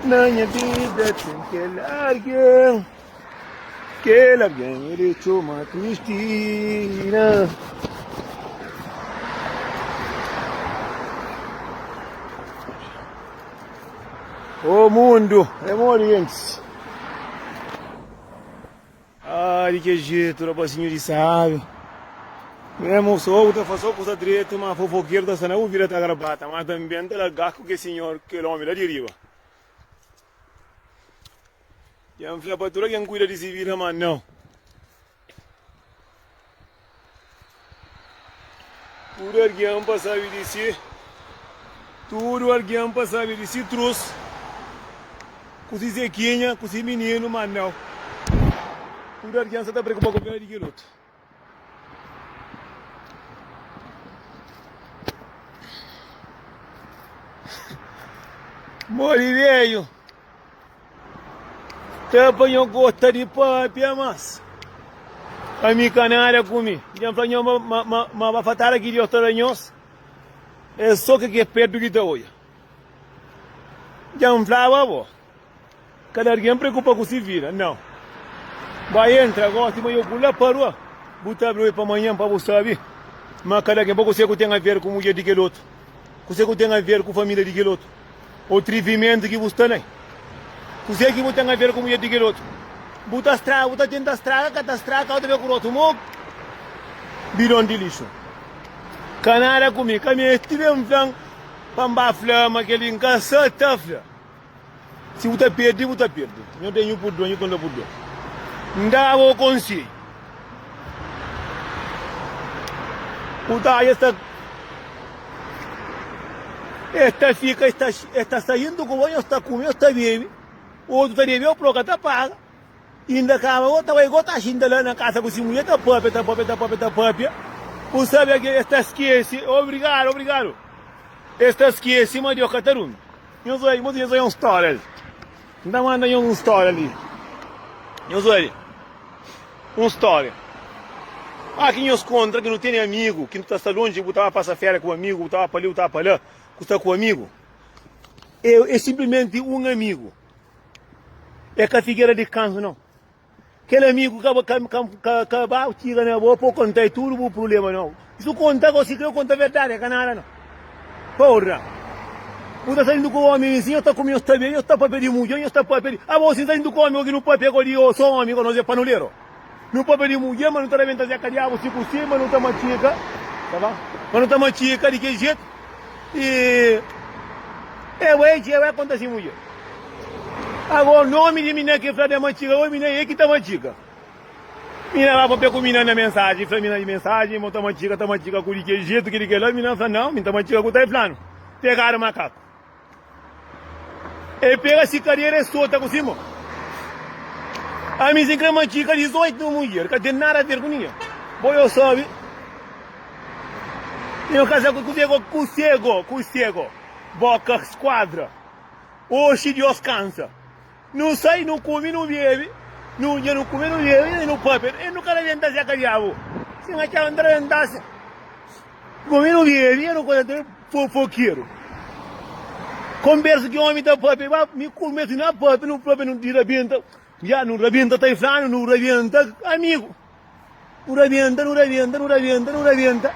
Na nha vida tem kel alguém Kel alguém é de chama Cristina O mundo é morientes Ah di ke jetu rapazinhu di sábi Nhé mosou ku ta faze só kuza dretu Má fofokeru ta sta na bu vida ta grabata Má tanbe N ta lagá ku ke sinhor kel ómi la di riba Dja N fla pa tuda ken kuida di se vida má nau Tudu algen pa sabe di si Tudu algen pa sabe di si trus Ku si zekinha, ku si mininu Manel Tudu algen sa ta preokupa ku vida di kel otu Modi veio Dja N fla nho gota di pâpia mas pa mi ka nada ku mi Dja N fla nho ma ba fatada ki Diós ta da nhos é sô ke ke pértu ki ta odja Dja N flaba bo ka da argen preokupa ku si vida nau Ba entra gosi ma yo ku la pa rua bu ta bri oi pa manhan pa bu sabi ma kada algen pa kusé ku ten aver ku mudjer di kel otu kusé ku ten aver ku família di kel otu. Ô trivimentu ki bu sta na el. Kuzê ki bu ten aver ku mudjer di kel otu? Bu ta straga, bu ta tenta straga, ka ta straga, ka bu ta ben ku otu. Mô bidon di lixu, ka nada ku mi. Ka meste ben fla-m pa N ba fla ma kel-li N ka sa ta fla. Si bu ta perde, bu ta perde. Nho ten nhu purdua, nhu ta da purdua. N da bo konsedju. Kuda es ta es ta fika es ta es ta saindo ku banho es ta kume es ta bebe otu ta debeu pro ka ta paga inda kaba go ta bai go ta xinta la na kasa ku si mudjer ta papia ta papia ta papia ta papia bu sabe ke es ta skese obrigado obrigado es ta skese ma Deus ka ta durmi nhos bai nhos bai un storia li. N ta manda nhos un stória li. Nhos obi un stória a ki nhos konta ki nu tene amigu ki nu ta sta lonji, bu ta ba pasa féria ku amigu, bu ta ba pa li, bu ta ba pa la ku sta ku amigu. E, e sinplimenti un amigu. E ka figera di kanzu, nau. Kel amigu ka ba ka ka ka ka ba txiga na bo pa bu konta e tudu bu prubléma nau. Si bu konta gosi krê konta verdadi e ka nada nau. Porra! Bu ta salidu ku omi insi nhos ta kume nhos ta bebe nhos ta papia di mudjer nhos ta papia di abo si salidu ku omi gosi nu papia godi o so omi godi nos e panuleru. Nu papia di mudjer ma nu ta rabenta zeka diabu si ku si ma nu ta matxika ma nu ta matxika di ki jetu. E eu é dje, eu é konta si mudjer. Ago nomi di mina ke fla de Matxiga, oi mina e ki ta Matxiga. Mina ba papia ku mina na mensaji, fla mina di mensaji, mo ta Matxiga, ta Matxiga ku di ke jetu, ki di kela, mina fla nau, mi ta Matxiga ku ta e flanu, pegadu makaku. El pega si kadera e sota ku si mon. Ami sin kre ma ki ka 18 mil mulher ka ten nada ver ku ninge. Bo yo sabi. Yo kaza ku kusego, kusego, kusego. Boka skuadra. Oxi Dios kansa. Nu sai, nu kume, nu bebe. Nu dja nu kume, nu bebe i nu pâpia. El nu ka rabenta-s dja ka diabu. Sin ma txeu N ta rabenta-s dja. Nu kume, nu bebe i nu kontenti. N é fofokeru. Konbersa ki ómi ta pâpia. Ba, mi ku Ermestu, nu na pâpia, nu pâpia, nu di rabenta. Dja nu rabenta ta inflanu, nu rabenta amigu. Nu rabenta, nu rabenta, nu rabenta, nu rabenta,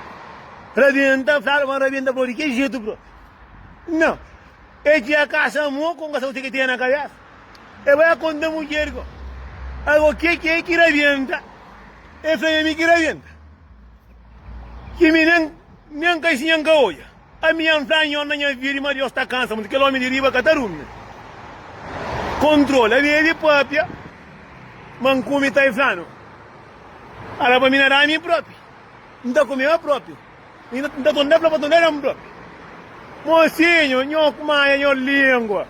rabenta, fla ma rabenta bro, di ke jetu bro? Nau, e txia kasa mo kon kasa ku teke teia na kabesa, e bai a konta mudjer ko, ago ke ki e ki rabenta? E fla ma mi ki rabenta, ki mi nen, nen ka isi, nen ka odja. Ami é nzan nhon na nha vida i ma Deus ta kansa mutu. Kel omi di riba ka ta rumia. Kontrola. Ami é di papia, ma N kume ta iflanu. Ala pa mi na da mi propi. N ta kume ma propi. N ta tunda fla pa tunda da mi propi. Mosinhu, nho kumaia nho lingua.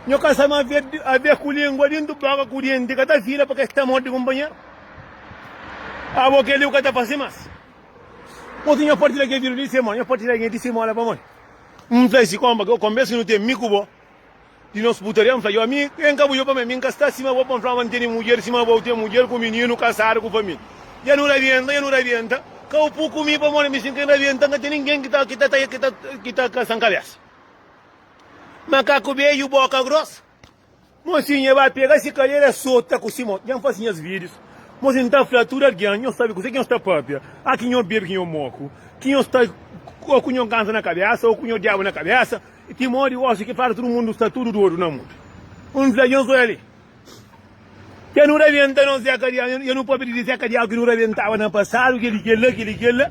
Nho ka sa ma abe ku lingua dintu boka ku denti ka ta fila pa kes ta morde kunpanheru. Abo kel-li bu ka ta fase mas. Poti nha partilha kel vídeo di semana. Nha partilha alguém di semana pa modi? N fla si konpa, kau konbes ki nu ten mi ku bo di nos putaria? N fla yo, mi ben ka bu yo pa mi, mi n ka sta sima bo pa n fla ma n tene mudjer sima bo, u ten mudjer ku mininu kasadu ku família. Ya nu rabienta, ya nu rabienta, kau pu ku mi pamodi mi sin ken rabienta, n ka ten ningen ki ta ki ta ki ta ki ta kasa n kabesa. Makaku beju, boka grosa. Mosinha é ba pega si kadera sota ku si mô. Dja N fase nhas vídios. Mosinha N ta fla tudu algen, nhos sabe kuzê ki nhos ta pâpia. A ki nho bebe ki nho moku. Ki nho sta ô ku nho kansa na kabésa ô ku nho diabu na kabésa. I ti mô di oxi ki fla tudu mundu sta tudu dodu na mundu. N fla nhos oja-li. Dja nu rabenta nos zeka di anu. Dja nu pâpia di zeka di anu ki nu rabentaba na pasadu. Kel-li, kel-la, kel-li, kel-la.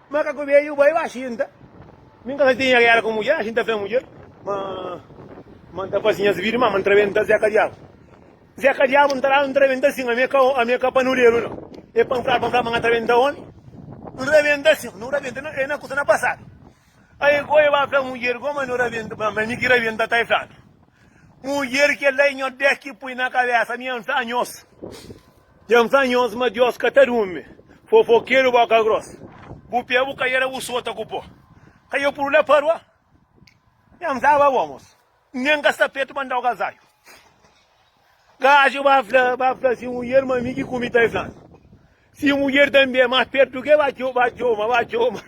Ma ka ku beju bai ba xinta. Mi N ka sa tinha gera ku mudjer, xinta fé mudjer. Ma, ma N ta fasi nhas bidi, ma ma N ta rebenta Zeka Diabu. Zeka Diabu N ta dadu, N ta rebenta sin, ami ka, ami ka panuderu no. E panfladu, panfladu ma N ka ta rebenta omi. N rebenta sin, no rebenta, e na kusa na pasadu. Ai ku e ba fla mudjer, goma no rebenta, ma ma e mi ki rebenta ta e fladu. Mudjer kila e nhos dés ki pui na kabesa, ami N fla nhos. Dja-m fla nhos ma Diós ka ta durmi, fofokeru bóka grós. Bu pé bu ka era usota ku pó, ka e puru la pa rua. Nha-m staba bon, mos, N nen ka sta petu pa N da-u kazaiu. Gaju ba fla, ba fla si mudjer ma mi ki ku mi ta e fla-m. Si mudjer tanbe é más pertu ke ba txoma, ba txoma, ba txoma.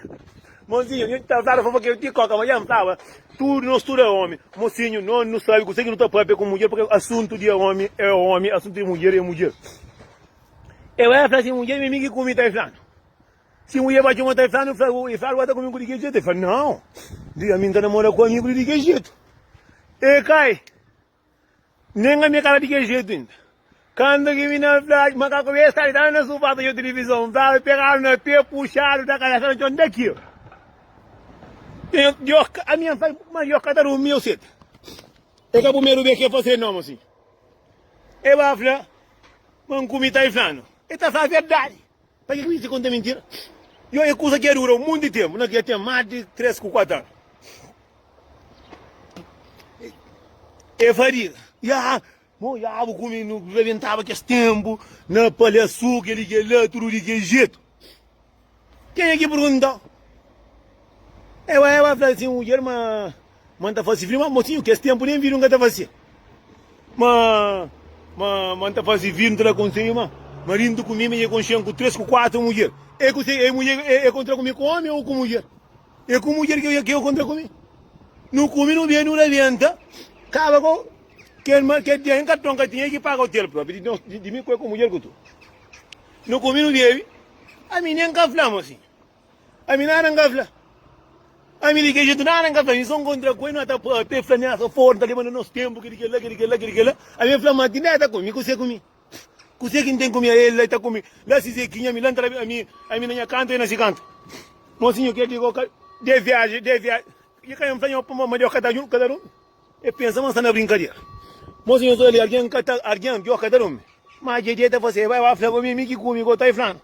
Monsinho, nhu pensaba fla ke ti koka, ma dja N flaba tudu no studa é omi. Monsinho, no nu sabi kuse ki nu ta papia ku mudjer, purke asuntu di omi é omi, asuntu di mudjer é mudjer. E bai fla si mudjer mi migi ku mi ta e flanu. Si mudjer bai txoma ta e flanu, e fla algu ata ku mi ku di ke jetu? E fla, Nau, dja mi N ta namora ku amigu di di ke jetu. E kai. Nen ami é ka ta di kel jetu inda. Kantu ki mi na fla ma ka kume stadu tava na sufá ta odja tilivizon, flaba pegadu na pé, puxadu da kabésa na txon nta ki el. Djob ka ami N fai, ma Djob ka ta durmi eu seta. É ka primeru bes ki el fase nomu asin. El ba fla ma N kume ta inflanu. El ta fla verdadi. Paki Kris di konta mintira? Yo e kusa ki a dura un monti di tempu, na ki a ten mas di tres ku kuatu anu. E fadiga, ya, mo ya bu kumi nu rebentaba kes tempu na palhasu keli kela tudu di kel jetu. Kenha ki purguntau? Ewa ewa fla sin mudjer ma. ma nta fasi fri ma motinhu kes tempu nen vidu nka ta fasia ma ma ma nta fasi fri nta da konselhu ma maridu nta ku mi ma e kon xen ku tres ku kuatru mudjer e ku e mudjer e kon tra ku mi ku omi o ku mudjer e ku mudjer ke ke kon tra ku mi nu kumi nu bebi nu rabenta kaba ko kel ma kel dia nen karton ka tinha e ki paga hotel propi di nos di mi ku e ku mudjer ku tu nu kumi nu bebi ami nen ka fla mosinhu Ami nada nka fla Ami liga jetu nada nka fla Ami son kontra ku el no ta pa Pe fla miasa for nta leba na nos tempu Ke di kela ke di kela ke di kela Ami e fla ma ti neta ku mi kuse ku mi Kuse ki n'ten ku mi ae la ta ku mi La si zekinha mi la nta la Ami Ami na nha kantu e na si kantu Mosinho ke di koka De viaje de viaje E ka yam fla nho puma ma de oka ta djun ka ta dun E pensa ma sta na brinkadera Mosinho so li algen ka ta algen de oka ta dun mi Ma dje dje ta fase e bai ba fla ku mi mi ki ku mi ko ta e flan.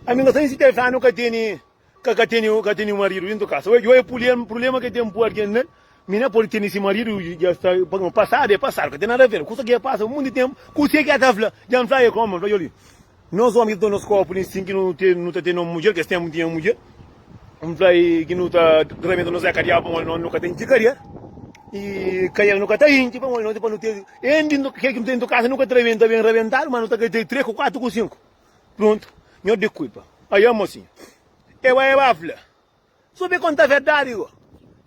Ami ka sai si tel fla ami ka teni ka ka teni ka teni marido dentro kasa oje oje pulema pulema ke tem pu algen na mi na podi teni si marido i ja sta no pasado e pasado ka ten nada aver kusa ke pasa mundi tem kuse ke ta fla ja n fla e koma n fla joli nos omi ke ta nos kopu li sin ke nu ten nu ta ten no mudjer kes tempu n tinha mudjer N fla i ki nu ta ramenta nos éka di agu pamodi nu ka ten txikaria i kaial nu ka ta intxi pamodi nu ten pa nu ten N di kel ki nu ten di kasa nu ka ta ramenta ben ramentadu ma nu ta kai ta trê ku kuatu ku sinku pruntu nho di kuipa aia mosinhu e bai e bai fla so be konta verdadi go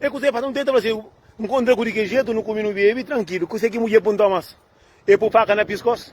e kusa e fasa nu tenta fla si nkontra ku di ki jetu nu kumi nu bebi trankilu kusa ki mudjer punta mas e pu faka na piskos.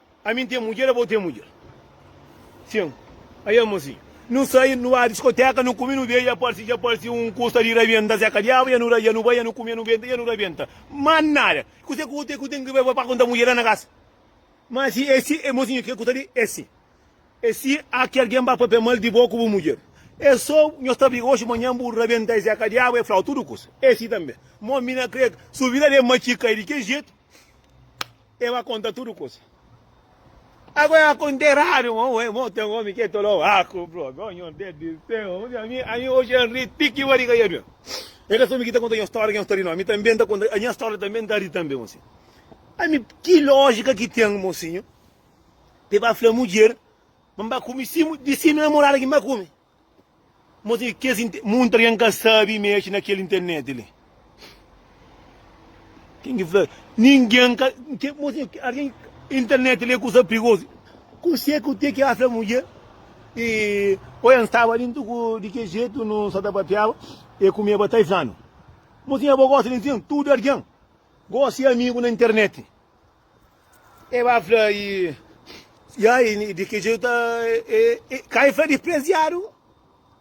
Ami N ten mudjer, abo ten mudjer. Sin. Ai amo asi. Nu sai, nu ba diskoteka, nu kume, nu bebe, ya parsi, ja parsi un ku sta di rabienta se ka diabu, ya nu ra, ya nu bai, ya nu kume, ya nu benta, ya nu rabienta. Ma nada! Kuse ku kuse ku ten ki bai pa konta mudjer la na kasa? Ma si e si, e mosinhu ke ku ta di e si? E si a ki algen ba papia mal di bo ku bu mudjer? E so, nhos ta briga oxi, manhan bu rabienta e se ka diabu, e flau tudu kusa. E si tambe. Ma mi na kre subi la de matxika e di ke jetu. E ba konta tudu kusa. Ago e akonta eradu, mo e mo ten omi ke tolo aku, bro, go nyon te di seu, mi ami ami oje an ri ti ki bariga ya due. E ka so mi ki ta konta nyon storia ki nyon sta ri no, ami tambe nta konta a nha storia tambe nta ri tambe mo sinho. Ami ki lojika ki ten mo sinho, pe ba fla mudjer, ma mba kumi si di si namorada ki mba kumi. Mos e kes inte. Munta rian ka sabi mexe na kel internet li. Ken ki fla ningen ka. Mos e arian internet li e kusa prigozu. Kuxê ku te ki a fla mudjer e oia n'staba li n'tuku di ke jetu nu sa ta papiaba e ku mi aba ta e flanu. Mos e abo gosi di nsin tudu arian gosi amigu na internet. E ba fla, I, i ai, di ki jeito ta. E, e, ka e fla dispreziadu,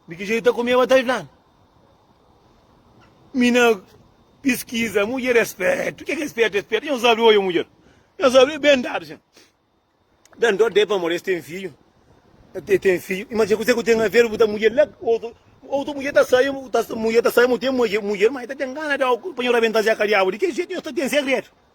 di ki jeito ta kume ba ta fla-l. Mi na piskiza, mudjer é spértu, ke ki é spértu? É spértu, nhos obi oiô mudjer, nhos obi ben dadu sen. Dan dó de pamodi es ten fidju, e ten fidju, i ma txeu kuze ku ten aver bu ta mudjer la, otu, otu mudjer ta sai, mudjer ta sai, mu ten mudjer, mudjer, ma e ta ten gana di, pa nho rabenta-l dja ka diabu, di ki jeito nhos ta ten segredu?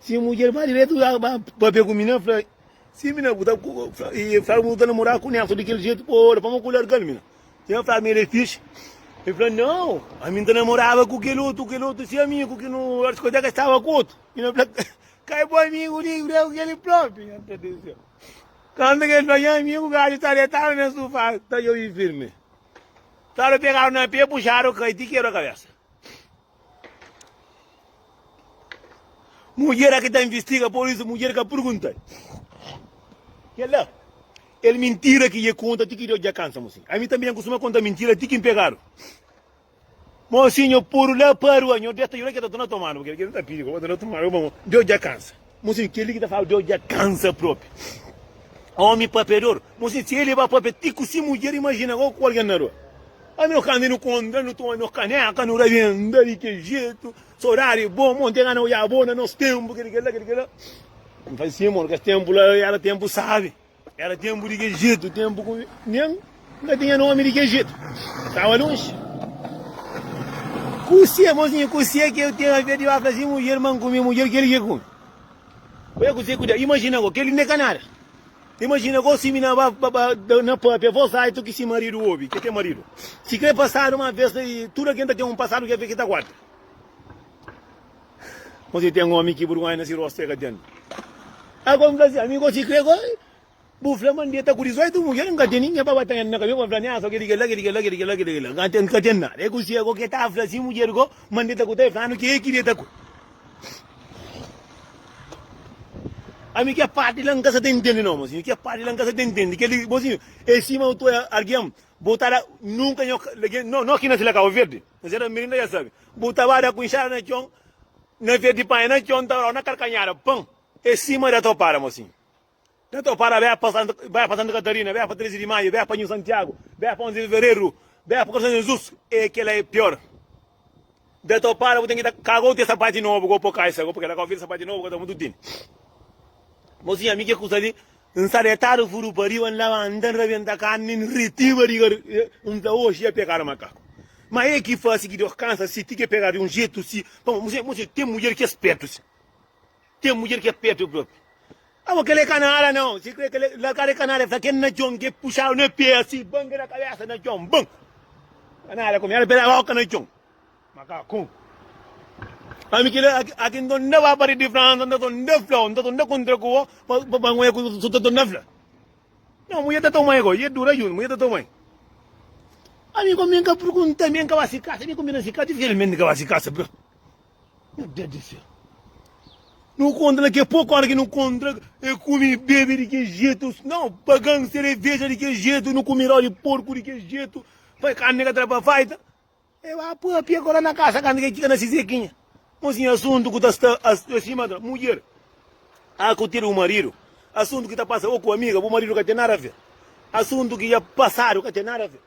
Si mudjer ba diretu la ba papia ku mi na fla si mi na bu ta i fla bu ta namora ku Nelson di kel jetu bo ola pa ma ku largal mi na i na fla mi el e fixi i fla nau ami nta namoraba ku kel otu kel otu si amigu ki no diskoteka staba ku otu i na fla ka e bo amigu li ku deu kel propi nha ta dizia kanta kel fla nha amigu gadju ta detadu na sufa ta jobi firmi staba pegadu na pe puxadu kai ti kebra kabesa. Mudjer a ki ta investiga por isso mudjer ka pergunta kel la el mintira ki dje conta ti ki Deus dja cansa mo sin ami tanbe nha costuma conta mintira ti ki mpegado mo sin nho podu la parua nho deta llora ki ta torna tomado porque el ta pidi pa bo torna tomado Deus dja cansa. Mostra kel-li ki ta fla, Deus dja kansa propi. Omi papeador. Mostra si el é ba papia ti ku si mudjer. Imajina gau ku algen na rua. Ami, kanta nu kontra, nu toma nos kaneka, nu rabenta di kel jetu. Sodadi bo, mon ten gana oja bo na nos tenpu, kel-li, kel-la, kel-li, kel-la. Ami fla, si, mon, kes tenpu la era tenpu sabi. É ra tenpu di kel jetu, tenpu ku nen N ka tinha nomi di kel jetu, N staba lonji. Kuzê, mozinha, kuzê ki eu tenho a ver de vacas e mulher, mãe ku mi, mulher kel ki ku mi? Oia kuzê ku da, imajina go, kel-li n'é ka nada. Imajina go si mi na ba ba da na pâpia, vós ai tu ki si maridu obi, ki é ten maridu. Sikrê pasadu ma vez, tudu algen ta ten un pasadu ki é fê ki ta guarda. Mas e ten omi ki burgonha na si rostu e ka ten. Ago N fla si, Ami gosi kre go, bu fla ma N deta ku dizoitu mudjer, N ka ten ningen pa ba tanha na kabesa pa fla nha, so kel-li, kel-la, kel-li, kel-la, kel-li, kel-la, kel-li, kel-la. N ka ten nada. E gosi ago ke ta fla si mudjer go ma N deta ku ta e flanu ke ki deta ku. Ami ke parti la N ka sa ta ntende no, mozinhu, ke parti la N ka sa ta ntende. Kel-li, mozinhu, e sima bu ta oja algen, bu ta la, nunka nha, no, no ki na fila Kabo Verdi. N seta mirin ta dja sabe. Bu ta ba da ku inxada na txon, na vez di panha na txon, N ta ba da-u na kalkanhada. Pan é sima da topara mo sin. Da topara beh pa Santa, beh pa Santa Katarina, beh pa Trezi di Maiu, beh pa Nhu Santiagu, beh pa Onze di Fevereru, beh pa Kor San Jezus, eh kela é pior. Da topara bu ten ki ta ka gou te sapati nobu, gou po kaixa, gou po kela. Ka oferi sapati nobu, ka ta mudu tini. Mosinha, mi ke kusa li N sta detadu furu pa riba, N labanta, N rabenta karni, N ritiba di gar. N fla, Oxi dja pegadu makaku. Ma e ki fasi ki Deus kansa si? Ti ke pegadu di un jetu si? Pamo, mo se, mo se ten mudjer ki é spetu si. Ten mudjer ki é petu propi. Abo, kel é kanara nau. Si kre, kel é largadu é kanara. E fla kel na txon, ke puxadu na pe, asi, ban, ke na kabesa na txon, ban. Kanara ku mi, el pela boka na txon. Makakun. Ami ki la aki n ta torna ba pari di Fransa, n ta torna fla-u, n ta torna kuntra ku bo pa ba ngoi ku su ta torna fla. No, mui e ta tomai goi, e dura juntu, mui e ta tomai. Ami kome n ka purgunta, ami n ka ba si kasa, ami kome na si kasa, dificilmenti n ka ba si kasa, bro. Meu Deus di seu. Nu kontra la ke poku ora ki nu kontra, e kumi bebe di ke jetu, no, pagan sereveja di ke jetu, nu kumi rau di porku di ke jetu, fai karni ka tra pa faita. E ba pâpia ku el la na kasa kantu ki el txiga na si Zekinha. Un sin asuntu ku ta sta a sta sima ta mudjer. A ku tira bu maridu. Asuntu ki ta pasa bo ku amiga, bu maridu ka ten nada aver. Asuntu ki dja pasadu ka ten nada aver.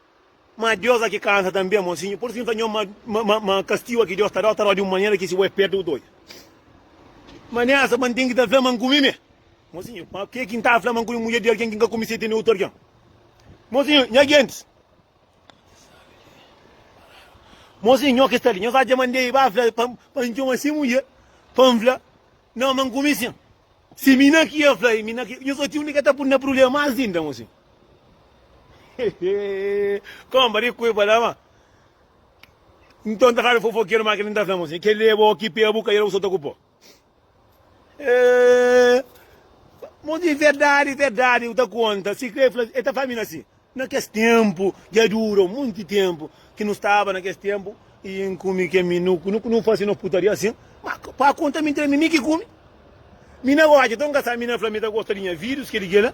Ma Deus a ki kansa tanbe, monsinhu. Pur isu ki nu ta nhomi ma ma ma kastigu a ki Deus ta da-u ta da-u di un manera ki si bo é pertu bu ta odja. Ma nessa ma N ten ki ta fla ma N kumi me. Monsinhu, ma ke ki N ta fla ma N kumi mudjer di algen ki N ka kumi se tene otu algen? Monsinhu, nha gentis. Mozinho, nho ki sta li. Nho sa dja mandé i ba fla pa pa N txoma se mulher pa N fla na ma N kume sen. Se mi na ki el fla i mi na ki. Nho sa tinha un di ka ta pun na prulema más inda, mozinho. Kónba di ku e fla ma N ton ta fla di fofokeru má kel-li N ta fla, mozinho, kel-li é bo ki pé bu ka ira bu sota ku po. Eh, mo di verdade, verdade, eu ta conta. Se crê, fala, ele tá falando assim. Naqueles tempo, já durou muito tempo, que não estava naqueles tempo, e em cume que me não, não, não fazia não putaria assim, mas para conta me entre mim que cume. Mina gosta, então casar, mina fala, me tá gostando de minha vídeos, que ele quer,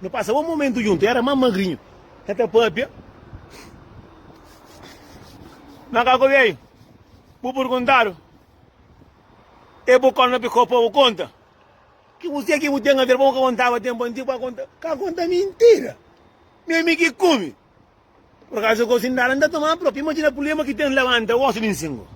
Nu pasa bon momentu djuntu. Éra más magrinhu, ka ta pâpia. Má ka ku beiu, bu perguntadu, É bu kónta ma pi kau pa bu konta? Ki bu se ki bu ten a ver pa bu ka kontaba tenpu antigu? Pa ka konta mintira? Mi ami ki kume? Por acaso é gosi ndará nda tomá prop imagina pulema ki ten labanta osso di nsingo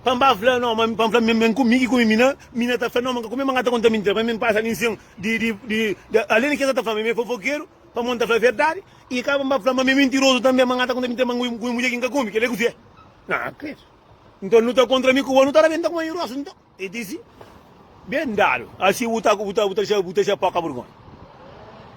pa nba fla no ma pa nfla mi mi kumi ki kumi mi na mi na ta fla no ma nka kumi ma nka ta konta mintira pa mi mi pasa di nsin di di di além di ke sa ta fla ma mi é fofokeru pamo nta fla verdadi i ka pa nba fla ma mi é mintirozu tanbe ma nka ta konta mintira ma ngu mudjer ki nka kumi kile kusi é na krédu nton nu ta kontra mi ku bo nu ta rabenta ku ma i rosu nton. E disi, Ben dadu, asi bu ta bu ta bu ta bu ta ja poka burgonha.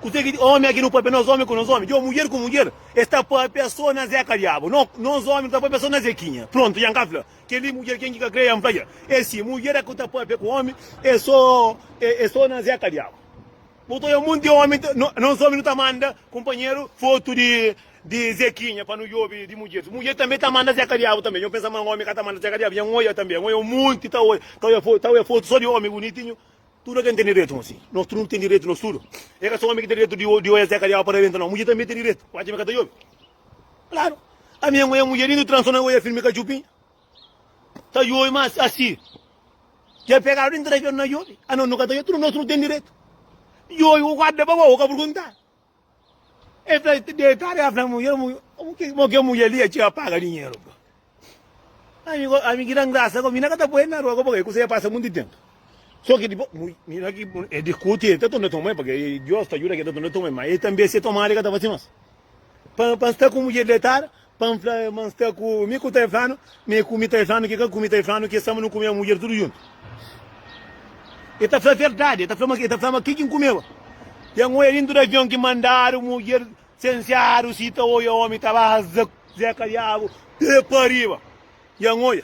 Kuse ki omi aki no papia nos omi ku nos omi? Djo mudjer ku mudjer es ta papia so na Zeca diabu. No nos omi no ta papia so na Zequinha. Prontu ja N ka fla keli mudjer ken ki ka kre ja N fla ja. E si mudjer aki ku ta papia ku omi e so e so na Zeca diabu. Bu ta oja monti di omi, nos omi nu ta manda kunpanheru fotu di Zekinha pa nu djobi di mudjer. Mudjer tanbe ta manda Zeka Diabu tanbe. Nho pensa ma omi ka ta manda Zeka Diabu. Nho oja tanbe, nho oja un monti, ta oja, ta oja fotu, ta oja fotu so di omi bonitinhu. Tudu algen ten direitu ma si. Nos tudu nu ten direitu, nos tudu. E ka so omi ki ten direitu di oja Zeka Diabu pa rabenta no. Mudjer tanbe ten direitu. Bu acha ma e ka ta djobi? Klaru. Ami nho oja mudjer indu transon, nho oja filmi ka txupinha. Ta yobi ma asi ke pekadu intra ke na yobi a no no ka ta yobi tudu nos no ten diretu yobi ku guarda pa bo ka pergunta e fla te deitadu e a fla mudjer mo ke mudjer li e txeu a paga dinheru bro ami ko ami ki dan grasa ko mina ka ta poi el na rua ko pague kusé pasa munti tempu so ke dipo mina ki e diskuti e ta tunda toma e pague dios ta juda ke ta tunda toma e ma e tambi e se tomada e ka ta fasi mas pa pa sta ku mudjer detada Pa N fla ma N sta ku mi ku ta e flanu, ma e ku mi ta e flanu, ki ka ku mi ta e flanu, ki e sama nu kumeba mudjer tudu juntu. E ta fla verdadi, e ta fla ma, e ta fla ma ki ki N kumeba. Ya N oia dintu di avion ki mandadu mudjer sensiadu si ta oia omi ta baza zeka diabu de pa riba. Ya N oia.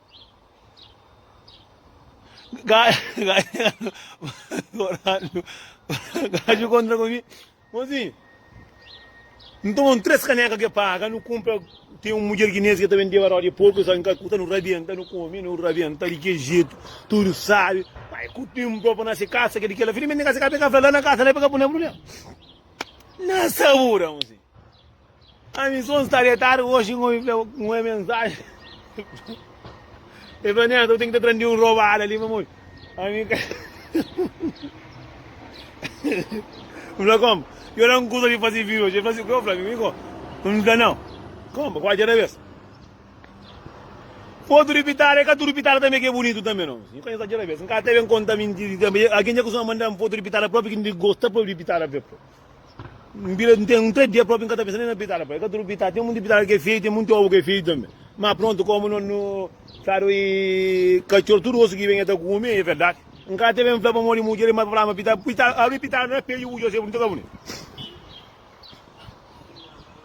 Gaju kontra ku mi. Mozinho, nu toma un três caneca que paga, nu compra, tem um mulher guinense que também deu a roda de porco, só em Calcutá, nu rabienta, nu come, nu rabienta de que jeito, tudo sabe, pai, com o tempo próprio na se casa, que de que ela, felizmente, na casa, pega, lá na casa, lá pega, pune, pune, na sabura, mozinho. Ami son sta detadu hoje N obi un é mensaje El fla neta bu ten ki ta prende un robada li pamodi ami ka N fla como? Yo la N kusa di fazi video hoje El fla si kua fla mi ko N fla nau Como? Kua dja da bes Fotu di pitada e ka tudu pitada tanbe ke bunitu tanbe no Yo ka insa dja da bes N ka ta ben konta mintiri tanbe Algen dja kustuma mandan fotu di pitada propi ki N di gosta propi di pitada Nbira n ten nta dia propi nka ta pensa nen na pitala pa e ka tudu pitala ten munti pitala ke feio ten munti obu ke feio tambe ma prontu komu no no sabe katxor tudu osu ki ben e ta kumi e verdadi nka ta ben fla pa modi mudjer e ma fla ma pitala pitala abri pitala na peju bu jose bunitu ka buni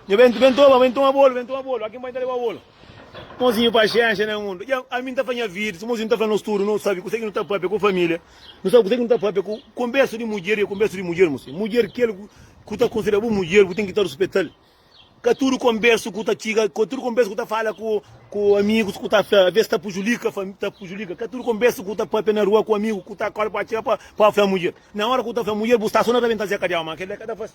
njo ben ben toma ben toma bolu ben toma bolu akin bai nta leba bolu. Mozinhu paxénxa na mundu. Dja ami n ta fla nha vida, si mozinhu n ta fla nos tudu nu sabe kuzê ki nu ta pâpia ku família, nu sabe kuzê ki nu ta pâpia ku konbérsu di mudjer i konbérsu di mudjer, mozinhu. Mudjer kel ku ta konsidera bu mudjer, bu ten ki ta ruspeta-l. Ka tudu konbérsu ku ta txiga, ka tudu konbérsu ku ta fala ku amigus ku ta fla, avês ta pujulika, ta pujulika. Ka tudu konbérsu ku ta pâpia na rua ku amigu ku ta akorda pa atxa pa fla mudjer. Na óra ku ta fla mudjer, bu sta sô na ta ben ta zeka di au, má kel-la ka ta fase.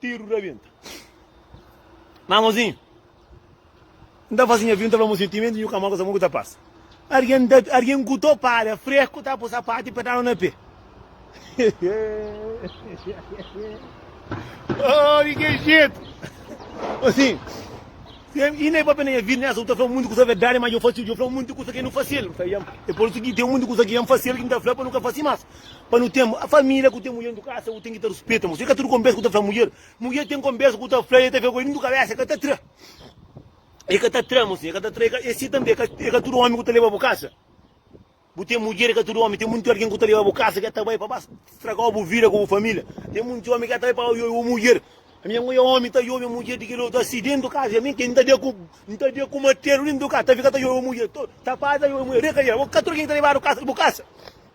Tiru rabenta Má amozinhu N ta faze nha vida N ta fla amozinhu Timenti nhu ka móre Sa mon ku ta pasa Argen ta Argen ku to para Freku ta po sapatu I pedala na pé Oh di ke jetu Amozinhu I ne papia na nha vida Nessa bu ta fla mundu kusa verdadi Má djo fla mundu kusa ke N fasil N fla Dja E por isu ki ten mundu kusa ki dja N fasil Ki N ta fla pa nu ka fasi más. Pa nu ten família ku ten mudjer dentro kasa, bu ten ki ta ruspeta mo. Se ka tudu konversa ku ta fla mudjer. Mudjer ten konversa ku ta fla i el ta fla ku el dentro kabesa, el ka ta tra. El ka ta tra, mosinha, el ka ta tra. I asi tanbe, e ka tudu omi ku ta leba bu kasa. Bu ten mudjer, e ka tudu omi. Ten monti algin ku ta leba bu kasa, ke ta bai pa ba stragau bu vida ku bu família. Ten monti omi ke ta bai pa ba yobe bu mudjer. Ami ango ya omi ta yobe mudjer di kel otu asi dentro kasa. Mi ke, N ta dia ku, N ta dia ku martelu dentro kasa ta fika ta yobe mudjer. Ta pasa ta yobe mudjer. Reka dia, bo ka tudu algin ta lebadu kasa, bu kasa.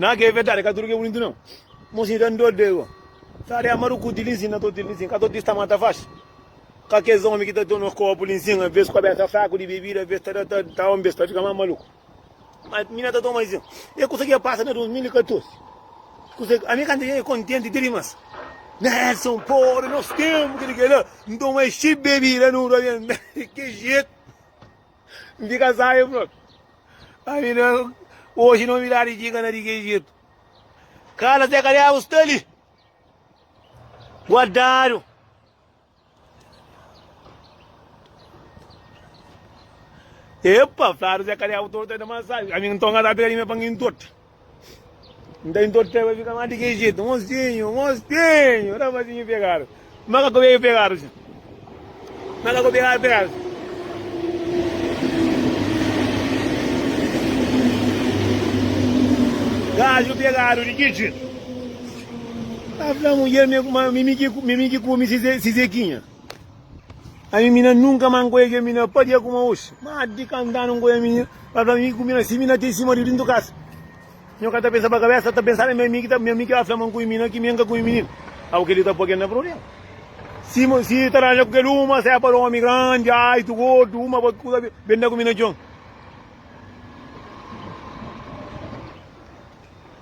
Nan ke verdade ka tudo ke bonito não. Mosi dan dor de go. Sare amaru ku ti linsin na to ti linsin. Ka to ti sta mata faz. Ka kes homem ki ta to nos copo linsin a vez cabeça fraco de bebida a vez ta da ta ta homem ta fica mais maluco. Mas mina ta toma linsin. E coisa que passa na 2014. Coisa a mim canta é contente de rimas. Nelson Poro, nós temos que ligar. Então é chip bebida no que jeito. Nti kasa e fla-l, Ami na oji novidadi txiga na di ki Ejitu. Kala se ka deba sta li guardadu. Epa, fladu se ka deba torta na masaju. Ami nton ka ta pega di me pangi ntorta. N ta intorteba i fika má di kel jetu, Mosinhu, mosinhu! Rapazinhu pegadu. Má ka ku beiu pegadu dja. Má ka ku beiu pegadu dja. Gaju pegadu di ki jetu? N ta fla mudjer, Mi mi ki kume si Zekinha? A mi, mi na nunka ma N konhe kel minina. Pâdia kuma oxi, má di ka N da nun konhe minina. Ba fla-m, mi ku minina si, minina ten si maridu dentu kasa. Nho ka ta pensa pa kabésa, ta pensa na mi. Ami ki ta, mi, ami ki ba fla ma N konhe minina, ki mi N ka konhe minina. Au, kel-li ta pô kel na prubléma. Si, si ta ranja ku kel uma, se é pa omi grandi, aitu, gordu, uma pa kuza, ben da ku mi na txon.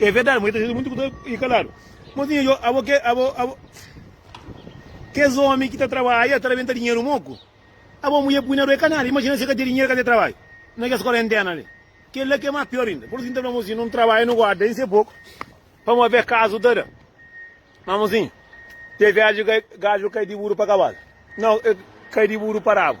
É verdade, mui ta xinti muitu ku ta i kaladu. Mozinha, yo, abo ke, abo, abo. Kes omi ki ta trabadja, ta rabenta dinheru moku. Abo muie pui na rua, e ka nada. Imagina se ka te dinheru, ka te trabadja. Na kes korentena li. Kel la ke mas pior inda. Por isu, mi ta fla mozinha, nun trabadja, nu guarda inse poku, pamo ave kasu ta da. Ma mozinha, te viaji ke gadju kai di buru pa kabalu. Nau, e kai di buru pa rabu.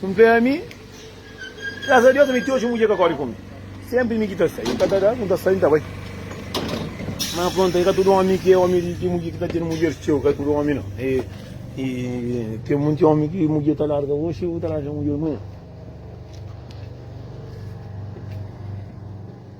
N fé ami, graças a Deus ami ti oji mudjer ka kori ku mi. Senpri mi ki ta sai, el ka ta da, N ta sai, N ta bai. Ma prontu, e ka tudu omi ki é omi di mudjer ki ta tene mudjer txeu, ka é tudu omi nau. E, e ten monti omi ki mudjer ta larga oji, bu ta larga mudjer amanha.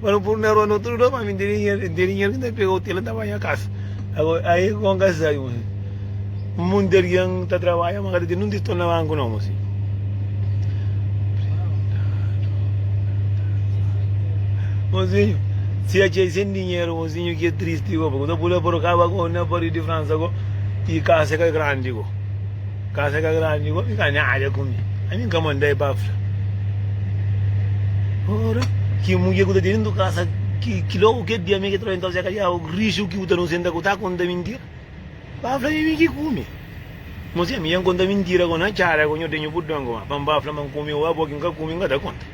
Pa nu puru na rua no tudu da pa mi diriñer diriñer ki ta pega otel ta ba nha kasa agora ai é kon ka sabi masi mun di algen ta trabalha ma ka ta ten nin titol na banku no masi mozinho si a txei sen dinheru mozinho ki é tristi ko pa ku ta pula por kaba ko na pari di fransa ko i kasa ka grandi ko Kasa ka grandi igual mi ka nada ku mi ani ka mandai pa fla ora ki mudjer ku ta tene ndu kasa ki ki logo ke dia mi ke trova se kalia o rishu ki u ta nusenta ku ta konta mintira ba fla mi ki kume mo se mi yan konta mintira ko na cara ko nho tenho budongo ma pa ba fla ma kume o abo ki ka kume ka ta konta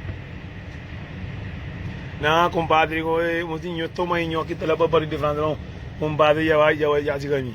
na kumpadri ko e mo si nho toma i nho ki ta la pa barri di fransa kumpadri ya ya ya si ka mi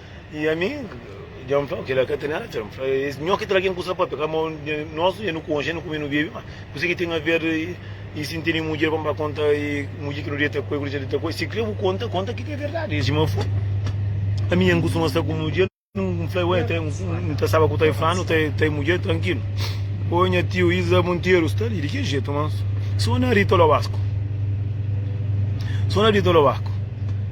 E ami, dja N fla, kila ka ten atxa. N fla, es nhó ki tra ken kusa pa peka, ma nos e nu konxe, e nu kume, e nu bebe. Ma kuse ki ten aver i si N tene mudjer pa N ba konta i mudjer ki nu deta ku el, ku nu dja deta ku el? Si kre bu konta, konta ki ta verdadi. El txoma Fun. Ami dja N kustuma sta ku mudjer, N fla, ué, N ta staba ku ta e fla, nu ta e mudjer trankilu. Ô nha tiu Iza Monteiro sta li di ki jetu? Ma sona Rita Loasco. Sona Rita Loasco.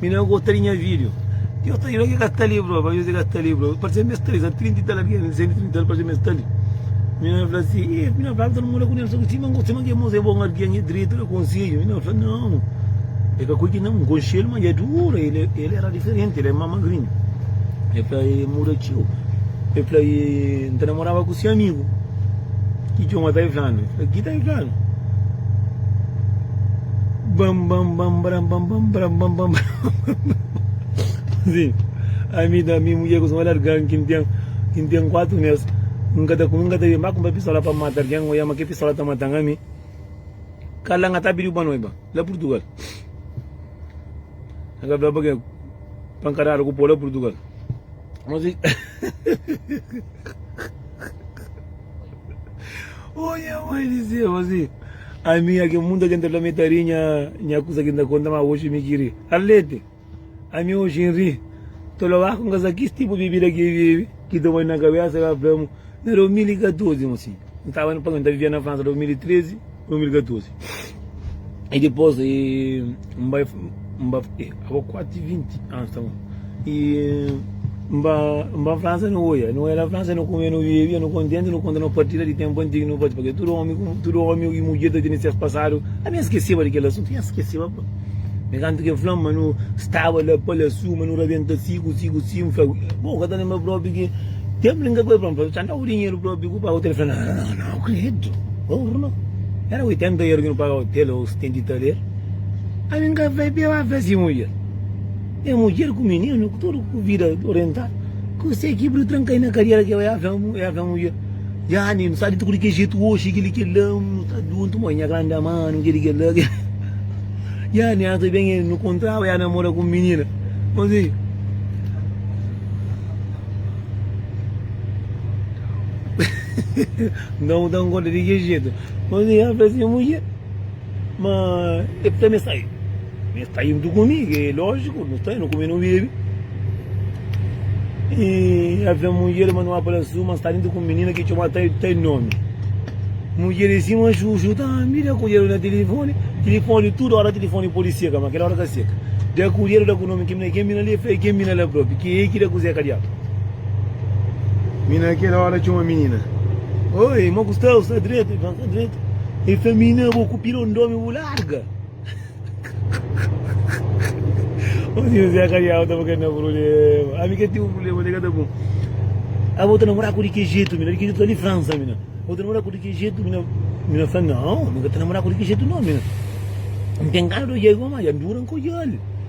Mi na gota di nha video. Ti yo ta li, ki ka ta li bro, pa mi si ka ta li bro, pa se mes ta li, sa trinta i tal anu, gen di sentu i trinta anu pa se mes ta li. Mi na fla si, e, mi na fla ki ta na mora ku Nelson, si ma gosi ma ke moza e bon algen, e dretu, e da konsedju, mi na fla nau, e ka koji nau, mi konxi el ma e dura, el e, el era diferenti, el e ma magrinhu, e fla e muda ciu, e fla e, mi ta namoraba ku si amigu. Ki Joma ta inflanu? Ki ki ta inflanu? Bam bam bam bram bam bam bram bam bam Sim, a mi da mi mulher com olhar gan que tem que tem quatro meses nunca tá nunca tá mais comprar pistola para matar quem olha mas que pistola tá matando a mim cala nga tá pediu para nós ba lá Portugal nga blá para quem pancarada com o povo lá Portugal Oia mãe di Zeu asi, ami nha ke munta ken ta fla mi ta ri nha nha kusa ken ta konta ma oxi mi ki ri. Arlete, ami oxi N ri, ta fla ba ku n kasa kis tipu bibida ki e bebe ki ta bai na kabesa, el a fla-m na 2014 un sin. N staba na Panga, n ta vivia na Fransa 2013, 2014. E dipôs e N bai, N ba, e abo kuati vinti anus ta mon. E N ba, N ba Fransa, nu oia, nu oia na Fransa, nu kumia, nu bebia, nu kontenti, nu konta nos partida di ténpu antigu, nu pâpia, pabia tudu ómi, tudu ómi i mudjer ta tene ses pasadu. Ami N skeseba di kel asuntu, nhas skeseba. Enkantu ki N fla-m ma nu staba la pa la suma, nu rabenta siku, siku, siku. N fla, Bo ka ta lenbra propi ki tenpu li N ka bai pa N fla-l, txanda ku dinheru propi ku paga otel? El fla, Nau, nau, nau, kredu, bo ku no. Éra oitenta eur ki nu paga otel, ô setenta i tal eur. Ami N ka bai peba fla si mudjer. Ten mudjer ku mininu, ku tudu ku vida orientadu. Kuzê ki bri tranka-i na kadiera ki el bai? El fla, el fla mudjer. Jani, nu sabe tuku di kel jetu oxi, kel-li, kel-la, nu sta djuntu, moi nha grandi amanu, kel-li, kel-la, kel-la. Jani, antis ben el nu kontraba, ja namora ku un minina. Konsi? Nton, bu ta konkorda di ki jetu? Konsi? Ela fla si, Nha mudjer. Ma e pta me sai me sta indo ku mi ke lojiku nu sta nu kume nu bebe e ave munjer ma nu a pala su ma sta indo ku minina ke txomadu ta ta nomi munjer e sima juju ta mira kujedu na tilifoni tilifoni tudu ora tilifoni podi seka ma kela ora ka seka da kujedu da ku nomi ken mina li e fla e ken mina la propi ke e ki da kuze kadiatu Mi na kel óra txoma minina. Oi, ma ku sta? Bu sta dretu? El fla, Sta dretu. El fla, Minina, bo ku pirondómi bu larga. Ô si Juzé ka diaba ta ba ka na prubléma. Ami ka ten un prubléma, nega ta bon. A bo ta namora ku di ki jetu, mina? Di ki jetu? Ali Fransa, mina. Bo ta namora ku di ki jetu, mina? Mina fla, Nau, mi ka ta namora ku di ki jetu, nau, mina. N ten gana di odja-l, ma dja N dura N ka odja-l.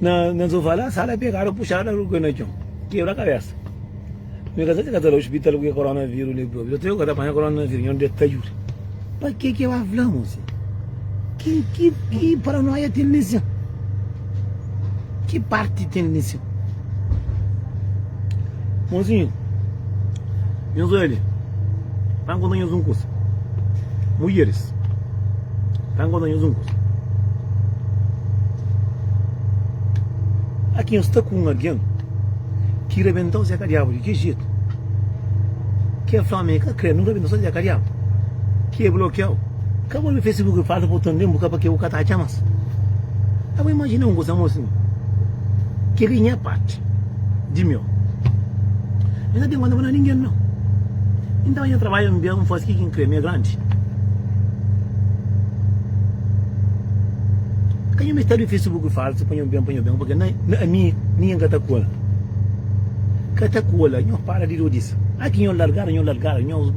Na na sofá la sala pegada puxada lu cai na txon kebra kabésa mi ka sa si ka ta la ospital ku ke koronavírus li própi dotor yo ka ta panha koronavírus nho dia ki ta djuda pa ke ke ba fla mu si ki ki ki paranóia ten li si ki parti ten li si Monzinho, nhos oja li, ta N konta nhos un kusa, Mudjeris, ta N konta nhos un kusa, aki nhos sta ku un algen ki rabenta-u Zeka Diabu di ki jetu, ki el fla ma el ka kre nu rabenta-u Zeka Diabu, ki el blokia-u. Ka bo na facebook e fala botón ben bu ka pa ke bu ka ta atxa mas a bo imajina un kusa mo sin keli nha parti di mio mi na ten konta pa da ningen no inton nha trabadju en bian fas ki kin kre mi e grandi ka nho mester di facebook falsu pa nho ben pa nho ben porque na ami ningen ka ta kola ka ta kola nho para di rodisa aki nho largada nho largada nho.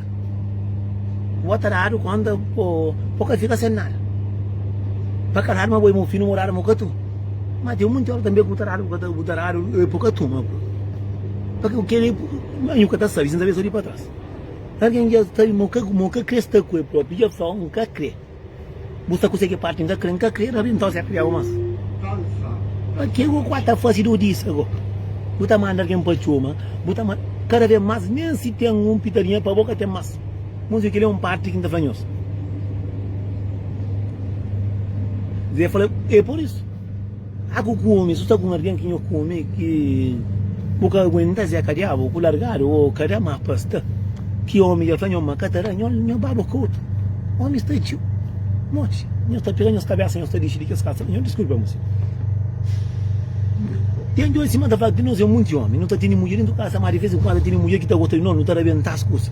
Bo ta dadu konta bo bo ka fika sen nada pa ka dadu ma bo e mo finu morada mo ka tun ma ten munti ora tambe ku bo ta dadu bo ta dadu e bo ka tun ma bo pa ke kila yu ka ta sabi sin ta be so di pa tras algin ja sabi ma mo ka kre sta ku e propi ja fla oh n ka kre Bu sta kuze ki parti N ka kre, N ka kre Rabi Nton serka di agu mas Pa ke ku ku ta fase du dis agu Bu ta manda algen pa txoma Bu ta manda kada ve mas Nen si ten un pitadinha pa bo ka ten mas Mozio keli é un parti ki N ta fla nhos Ze fla, e por isu. A ku kume su ta ku un argen ki nho kume ki bu ka aguentas e ka diabu ku largadu o ka da ma pasta ki omi dja fla nho ma ka ta da nho nho baba ku otu omi sta dju noti nhos ta pega nhos kabesa nhos ta dixi di kes kasa nho diskulpa muse ten djobe sima ta fla ki nos e munti omi nu ta tene mudjer dentu kasa ma di vez en kuandu tene mudjer ki ta gosta di nos nu ta rabentas kusa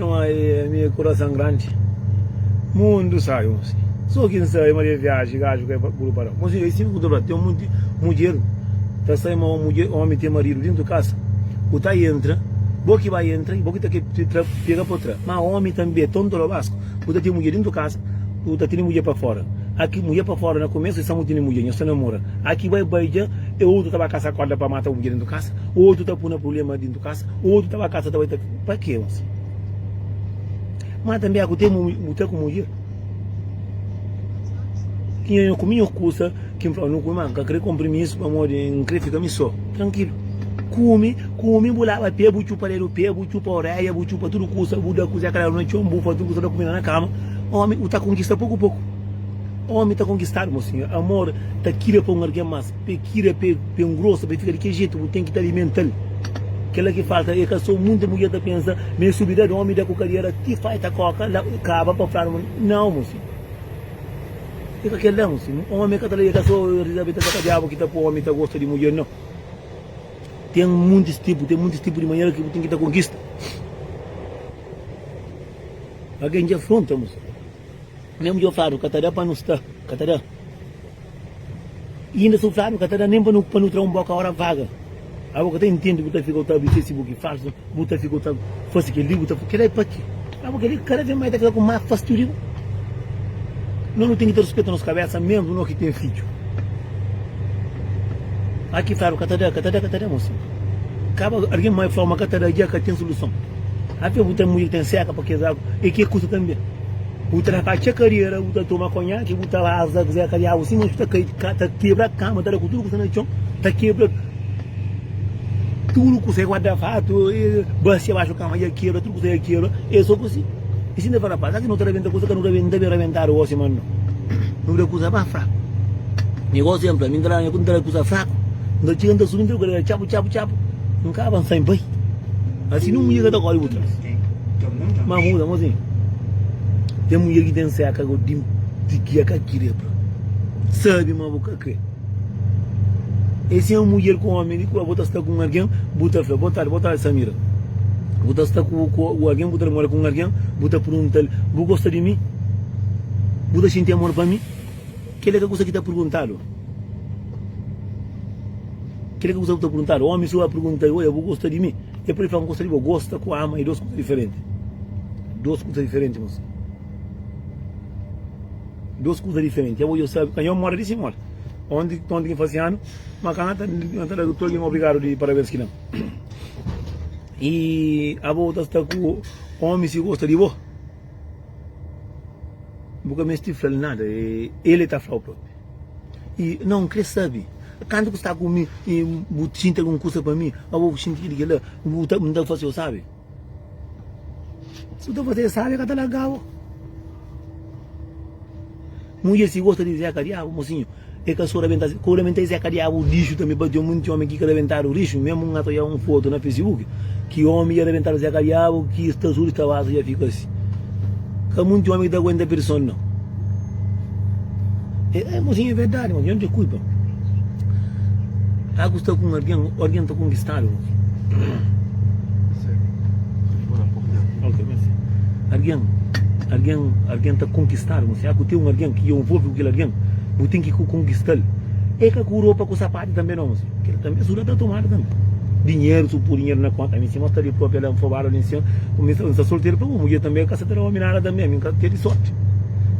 Não há meu coração grande Mundo sai um sim Só quem sai uma viagem Gajo que é puro para Mas eu assim que tem um monte Mulher Tá sai uma mulher Homem tem marido dentro de casa O tá entra Bo que vai entra E bo que tá que pega por trás Mas homem também Tonto lo basco O tá tem mulher dentro de casa O tá tem mulher para fora Aqui mulher para fora Na começo só tem mulher Nho só namora Aqui vai beija E outro tá vai caçar corda Para matar mulher dentro de casa Outro tá puna problema dentro de casa Outro tá vai caçar Tá vai tá Pa ke mas? Ma tanbe aku te mu ta ku mudjer? Ki nha nha ku minho kusa ki nfla nu kumi ma nka kre konprimisu pamodi nkre fika mi so trankilu kumi kumi bu laba pe bu txupa dedu pe bu txupa oreia bu txupa tudu kusa bu da kuze kla na txon bu fla tudu kusa bu da kumida na kama omi u ta konkista poku poku omi ta konkistadu mo sinhor amor ta kila pa un argen mas. Pe kira pe ben grosa pe fika di ke jetu bu ten ki ta alimental kela ki falta e ka so munte mudjer ta pensa ma e subi dad omi da ku kadera ti fai ta koka la kaba pa fla ma nau mo si e ka kela mo si un omi ka ta e ka so rizabeta da ka diabu ki ta po omi ta gosta di mudjer nau ten muntis tipu ten muntis tipu di manera ki bu ten ki ta konkista algen ja fronta mo si. Nha mudjer fladu ka ta da pa nu sta ka ta da i inda su fladu ka ta da nen pa nu pa nu tra un boka ora vaga abo ka ta intendi bu ta fika u ta abri facebook falsu bu ta fika u ta fasi kel li bu ta fasi kela e pa ki abo kel li kada vez mai ta fika ku ma fastiu di bu no nu ten ki ta ruspeta nos kabesa mesmu no ki ten fidju a ki fladu ka ta da ka ta da ka ta da mosi kaba algin mai flau ma ka ta da ja ka ten suluson a fia bu ten mudjer ki ten seka pa kes agu e ke kusa tanbe. Bu ta dapatxa kadera, bu ta toma konhaki, bu ta raza kuzé ka diabu si, mas bu ta kai, ta kebra kama, ta da ku tudu kuzé na txon, ta kebra tudu kuzé, guarda fatu, basia baxu kama dja kebra, tudu kuzé dja kebra, e so ku si. E si nta fala pa, seraki no ta rabenta kuza ka nu rabenta, nta ben rabentadu gosi ma no, no da kuza ba fraku. Mi gosi enpla, mi nta da, mi nta da kuza fraku, nta txiga nta subi nta da ku kadera txapu txapu txapu, nkaba nsa i bai. Asin un dia ka ta kori bu tras. Má muda, mô zen. Ten mudjer ki ten séka gó di di ki e ka kre pa sabe ma bo ka kre. E si é un mudjer ku ómi di kua bo ta sta ku un algen, bu ta fla, Bó tardi, bó tardi Samira. Bu ta sta ku ku ku algen, bu ta namora ku un algen, bu ta pergunta-l, Bu gosta di mi? Bu ta xinti amor pa mi? Kel-li é ka kusa ki ta perguntadu. Kel-li é ka kusa ki ta perguntadu. Ómi sô a pergunta-l, Odja, bu gosta di mi? E pudi fla un kusa di bo, gosta ku ama e dos kusa diferenti. Dos kusa diferenti mosi. Dos kusa diferenti. Abo yo sabi, kanjo moda di si moda. Onti, onti ki fasi anu, ma ka na ta, na ta da tudu algin obrigadu di parabens ki dan. E abo ta sta ku omi si gosta di bo, bu ka misti flal nada, e el e ta flau propi. E não kre sabi kantu ku sta ku mi e bu xinti algun kusa pa mi abo bu xinti ki di kila bu ta bu ta fase'u sabi si bu ta fase'u sabi ka ta lagabo mudjer si gosta di zeka diabu mosinhu e ka so rabenta ku rabenta e zeka diabu lixu tambi pa ten monti omi ki ka rabentadu lixu memu un atoia un fotu na facebook Ki omi dja rabentaba se kabiabu ki es ta suri tabasu dja fika asi. Ka munti omi ki ta aguenta pirson nau. E, e mosinha e verdadi mosinha, onde kuipa? Agu sta ku un argen, argen ta konkistadu mosinha. Ok, merci. Argen, argen, argen ta konkistadu mosinha. Agu ten un argen ki dja un volve ku kel argen, bu ten ki konkistal. E ka ku ropa ku sapatu. Adi tanbe na onze, kel tanbe su da ta tomadu tanbe. Dinheru, su pur dinheru na konta, ami si mostra li propi, el da nfobadu ali nsin, ku mi nsta solteru pa bu mudjer tanbe, el ka sa ta da omi nada tanbe, ami nka tedi sorti,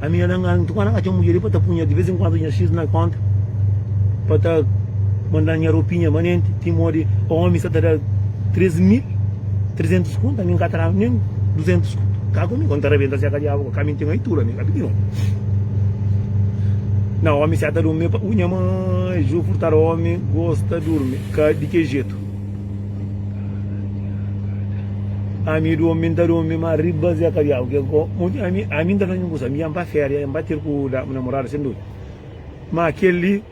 ami ala nga ntuka na ka txeu mudjer li pa ta punha di vez en kuandu nha xis na konta, pa ta manda nha ropinha manenti, ti modi omi sa ta da tres mil. 300 conto ami nka ta daba nen 200 conto ka ku mi kon ta rabenta seka diabu ka mi nten aitura ami ka pidi non na omi seta dum me pa u nha mãe ju furtar omi gosta durmi ka di ke jetu ami du omi nta dumi ma riba seka diabu ke ko ami ami nta fazin kusa mi yan pa feria yan pa tir ku da namorada sen dumi ma keli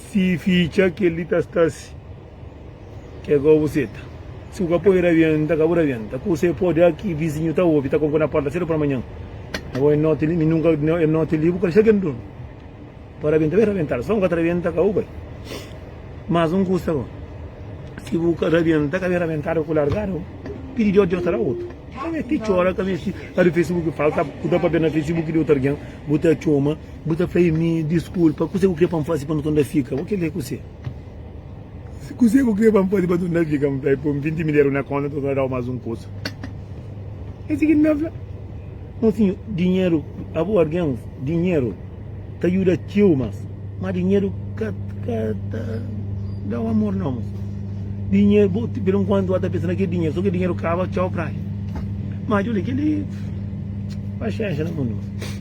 si fica keli ta stasi Ke gobu seta. Si bu ka poi rabienta ka bu rabienta ku se pode aki vizinhu ta obi ta konko na porta sedu pa manhan na bo e noti li mi nunka e noti li bu ka dexa ken durmi pa rabienta be rabiental son ka ta rabienta ka bu bai mas un kusa bo si bu ka rabienta ka be rabientadu ku largadu pidi di otu otara otu ka mesti cora ka mesti adu facebook falta ku ta papia na facebook di otu argen bu ta coma bu ta fla e mi diskulpa kuse ku kre pa n fasi pa n konda fika bo kile kuse. Se kuzê ku krê pa N faze pa tudu na fika, N fla el, poi-m vinti mil eru na kónta, nton ta da-u más un kusa. Es i ki N ta fla. Mon sinhu, dinheru, abo algen, dinheru ta djuda txeu más, má dinheru ka ka ta da-u amor nau, mon sinhu. Dinheru, bo pur enkuantu bo ta pensa na kel dinheru, sô kel dinheru kaba, txau praia. Má djobe kel-li, paxénxa na mundu, mon sinhu.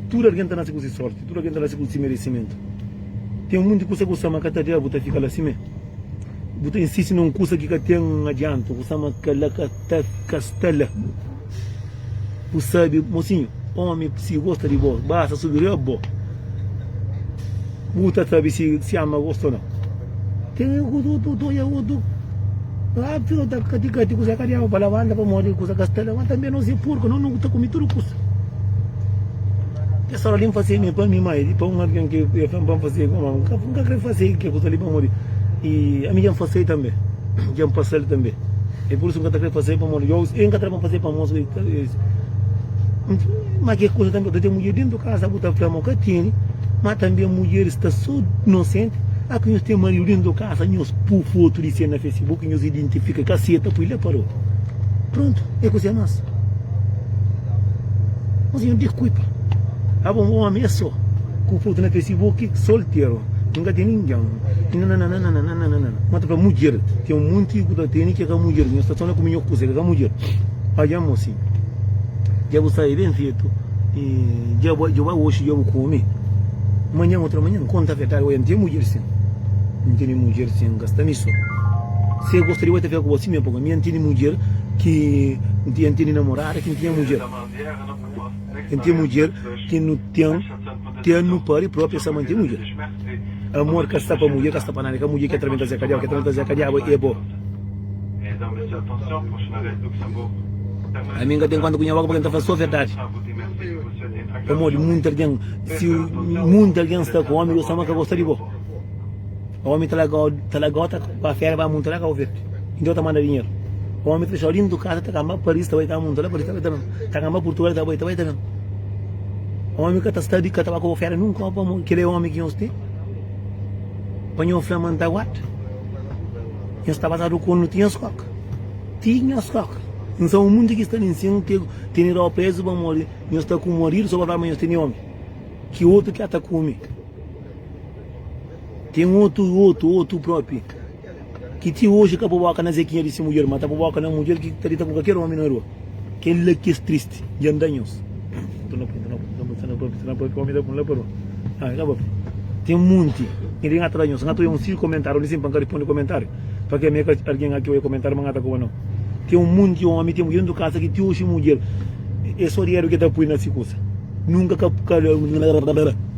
Tudu algen ta nase ku se sórti, tudu algen ta nase ku se meresimentu. Ten monti kusa ki bu sa ma ka ta da, bu ta fika la simé. Bu ta insisti na un kusa ki ka ten adiantu, bu sa ma kel-la ka ta ka sta la. Bu sabe, mosinhu, ómi si gosta di bo, basta subi riba bo, bu ta sabe si ama gosta o nau. Ten otu, otu, otu, otu. Óbviu, nu ta ka di ka ti kuzê ka diaba pa labanta, pamodi kuzê ka sta la. Má tanbê nos é purka, nos nu ta kume tudu kusa. Kes óras li N fazeba mi pa mi, má é pa un algen ki é fla-m pa N faze. Má N ka krê faze kel kuza li pamodi ami dja N faze-l tanbê, dja N pasa-l tanbê. É pur isu N ka ta krê faze pamodi ôs el ka ta da pa N faze pamodi ôs ka ta faze. Má kel kuza tanbê, bu ta ten mudjer déntu di kaza, bu ta fla ma bu ka tene. Má tanbê mudjeris sta sô inosenti. Â ki nhos ten maridu déntu di kaza. Asa nhos pu fotu di se na Facebook e nhos identifika ka se ta pui la parou prontu e ku se mas mas nhos dikuipa abo un omi e so ku fotu na Facebook solteru nhos ka teni ningen e nananana ma ta fla mudjer ten un monti ku ta teni ke ka mudjer nhos ta tona ku minhor kusa ke ka mudjer oja amo si ja bu sai ben fetu e ja bu oxi ja bu komi manhan otra manhan konta verdadi oja N ten mudjer si. Ntende mudjer sen gasta mi so Se gosta di bo e ta fika ku bo si mê pa bo Mi a ntende mudjer ki N tinha Ntende namorada ki N tinha mudjer N tinha mudjer ki nu ten Ten nu pari propi e sa mante mudjer Amor ka sta pa mudjer ka sta pa nada E ka mudjer ki atra mi ta zeka diaba Ki atra mi ta zeka diaba e bo Ami N ka ten konta ku nha boka pa ke N ta fla so verdadi. Pamodi munti algen, si munti algen sta ku omi, Deus ama ka gosta di bo. Omi ta laga, ta laga ota pa fera, ba munta la ka ofet. Inda ota manda dinheru. Omi ta fechau dintu kasa, ta kamba Paris, ta bai ka munta la, Paris ta bai taben. Ta kamba Purtugal, ta bai, ta bai taben. Omi ka ta sta di, ka ta ba ku bo fera nunka, pamo, kila e omi ki nhos ten. Pa nhos fla ma N ta guarda. Nhos ta pasadu konu ti nhos koka. Ti nhos koka. N sa un munti ki sta li nsin, tene ropa prezu pamodi Nhos sta ku un maridu so pa fla ma nhos tene omi, ki otu ki ata kume ten otu otu otu propi ki ti oji ka po boka na zekinha di si mudjer ma ta po boka na mudjer ki ta dita ku kalker omi na rua kel la ki es tristi dja nda nhos ten munti nhos. Pa ke me ka argen ati oja komentáriu ma ngata koba no. Ten un munti omi ten mudjer dentu kasa ki ti oxi mudjer e so dineru ke ta pui na si kusa. Nunka ka ka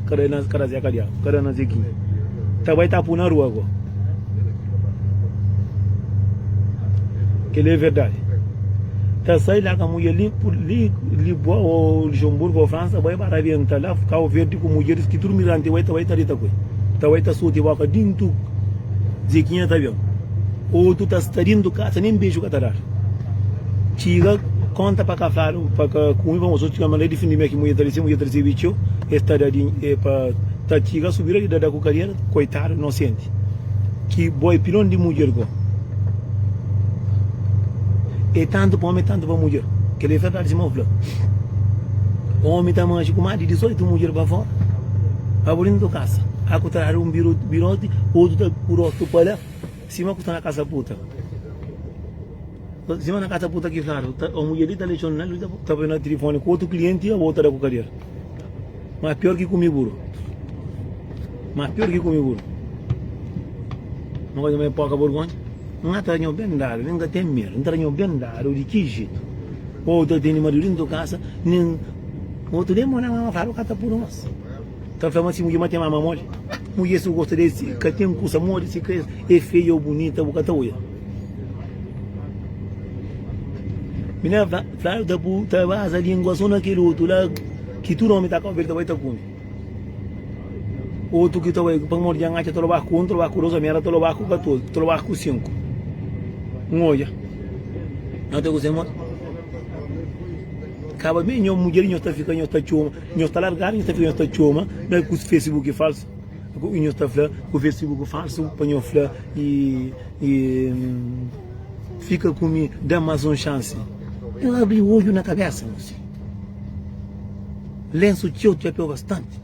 ka da zeka diabu ka da na zekinha. Ta bai ta pu na rua go. Keli e verdadi. Ta sai la ka mudjer li li Lisboa o Luxemburgo o Fransa bai ba rabenta la Kau Verdi ku mudjeris ki tudu migrante bai ta bai ta dita ku e. Ta bai ta soti boka dentu. Zekinha ta ben otu ta sta dentu kasa nen beju ka ta dar txiga konta pa kafadu pa ka kumi pa mostra otu txiga ma na difindi mia ki mudjer ta risi mudjer ta risibi txeu es ta da din e pa ta txiga subi la di da da ku kadiera koitadu inosenti ki boi pilon di mudjer go e tantu pa omi e tantu pa mudjer kel li e ferdadi sima u fla omi ta maxi ku ma di 18 mudjer pa fora pa bu dentu kasa. a ku ta dadu un birote otu ta ku rotu pa la sima ku sta na kasa puta sima na kasa puta ki fladu ta o mudjer li ta lexon na li ta bai na telefone ku otu klienti a bota da ku kader ma pior ki kumi buru ma pior ki kumi buru ma koza mai poka burgonha na ta ranho ben dadu nen ka ten medo na ta ranho ben dadu di ki jetu o ta tene maridu dentu kasa nen otu nen mora ma fladu ka ta puru mas Ta fla ma si mudje má ten mama moli Mudje si bu gosta di el si ka ten kusa modi Si ka e feia o bunita bu ka ta odja Mi na fladu ta bu ta baza lingua so na kel otu la Ki tudu omi ta kaba el ta bai ta kume Otu ki ta bai pamodi dja n'atxa ta loba ku un ta loba ku dos omi éra ta loba ku katozi ta loba ku sinku N'odja Nau ta kuzê ma Kaba ben nhos mudjer nhos ta fika nhos ta txoma. Nhos ta largadu nhos ta fla nhos ta txoma da ku fesibuki falsu i nhos ta fla ku fesibuki falsu pa nhos fla i fika ku mi da mas un xansi nhos abri odju na kabesa nhos si lensu txeu txapeu bastanti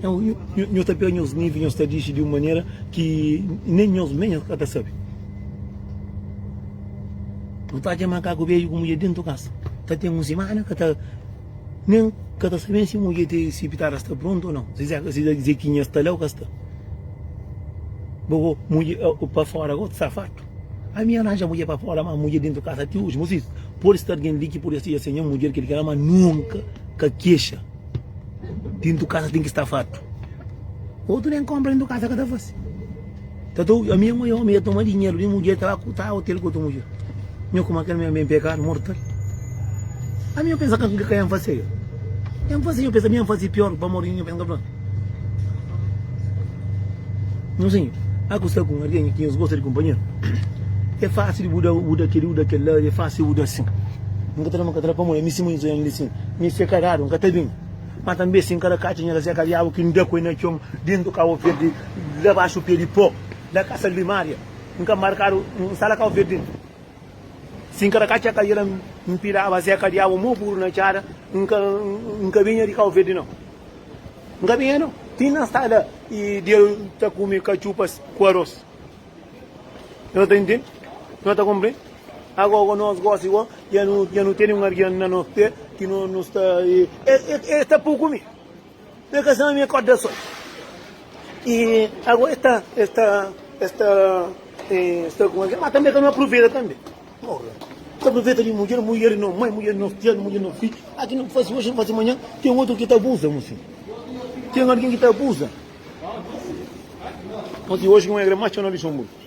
nhos ta pega nhos nivi nhos ta dixi di un manera ki nen nhos mé nhos ka ta sabi. Nu ta atxa ma kaku bedju ku mudjer déntu kasa ta ten un simana, ka ta nen ka ta sabe si mudjer ti si pitada sta prontu o nau, si zekinha sta la o ka sta. Bo bo mudjer pa fora ka bo ta sta fartu. Ami N aranja mudjer pa fora, ma mudjer déntu kasa ti oji. Mos izi, pode sta algen li ki pode seja se nha mudjer kel ki la, ma nunka ka kexa. Déntu kasa ten ki sta fartu. Otu nen konpra déntu kasa ka ta fase. Ta tou ami é maior mi ta toma dinheru di mudjer ta ba ku ta hotel ku otu mudjer nho kuma kel ami é pekadu mortal ami nho pensa kika ka nho fase nho fase nho pensa ami fase pior pamor di nho pensa nka fla nho sinhu a ku sta ku algen ki nhos gosta di kunpanheru é fasil bu da bu da kili bu da kila é fasil bu da asin nka ta da nka ta da pamodi ami si modi nho lisin mi se karadu nka ta bin ma tanbe si nka da katxia nho ta seka diabu ki nda ku el na txon dentu kau ferdi La baxu pé di po, la kasa limária. N ka markadu un sala kau verdi N si ka ta katxa ka yera N piraba zé ka diabu mo puru na txada N ka N ka binha di kau verdi no N ka binha no Ti na sta la i Deus ta kumi katxupas ku aros No ta intendi? No ta konprendi? Agogo nos gosi go ya no teni un algen na nos pé ki no sta e ta pui kumi. Mé ka sama mi akorda sol i ago es ta es ta es ta es ta kuma ki ma tambe ka no apruveta tambe ora ta apruveta di mudjer mudjer no mai mudjer no tias mudjer no fi a ki no fasi oxi no fasi manha ten otru ki ta abuza mu si ten algin ki ta abuza oxi un regra ma txeu na luxenburgu.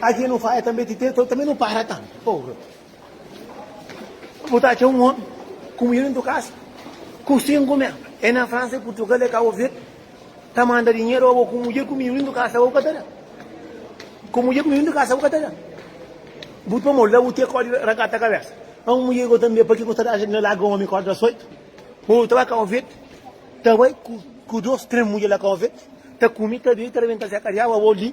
Aji nu faia tanbe ti teto tanbe nu para ta porra. Bu ta atxa un omi ku mulher dentu kasa ku sinku men e na Fransa e Purtugal e Kabu Verde ta manda dinheru oba ku mulher ku mininu dentu kasa bu ka ta da. Ku mulher ku mininu dentu kasa bu ka ta da. Bu pamodi la bu te kodi rakata kabesa. A un mulher go tanbe pake ku ta da ajuda na laga omi kodi da soitu. Bo ta ba Kabu Verde ta bai ku dos tres mulher la Kabu Verde ta kumi ta bebe ta rebenta se kariaba bo li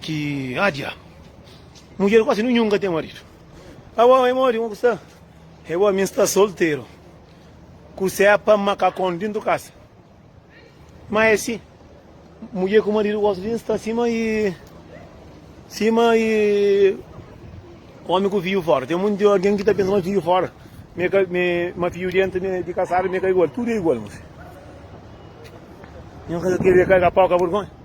Ki adja! Mudjer kuasi ninhun ka ten maridu. Awa e modi kuma ku sta? E bo, mi N sta solteru. Ku sepa makakon dintu kasa. Ma e si, mudjer ku maridu gosi di N sta sima i, sima i omi ku fiju fora. Ten monti algen ki ta pensa ma fiju fora, mi ka, mi, ma fiju dentu mi, di kasadu mi ka igual. Tudu e igual, mon fiju. Nhos ka ta kere karga pau ka burgonha?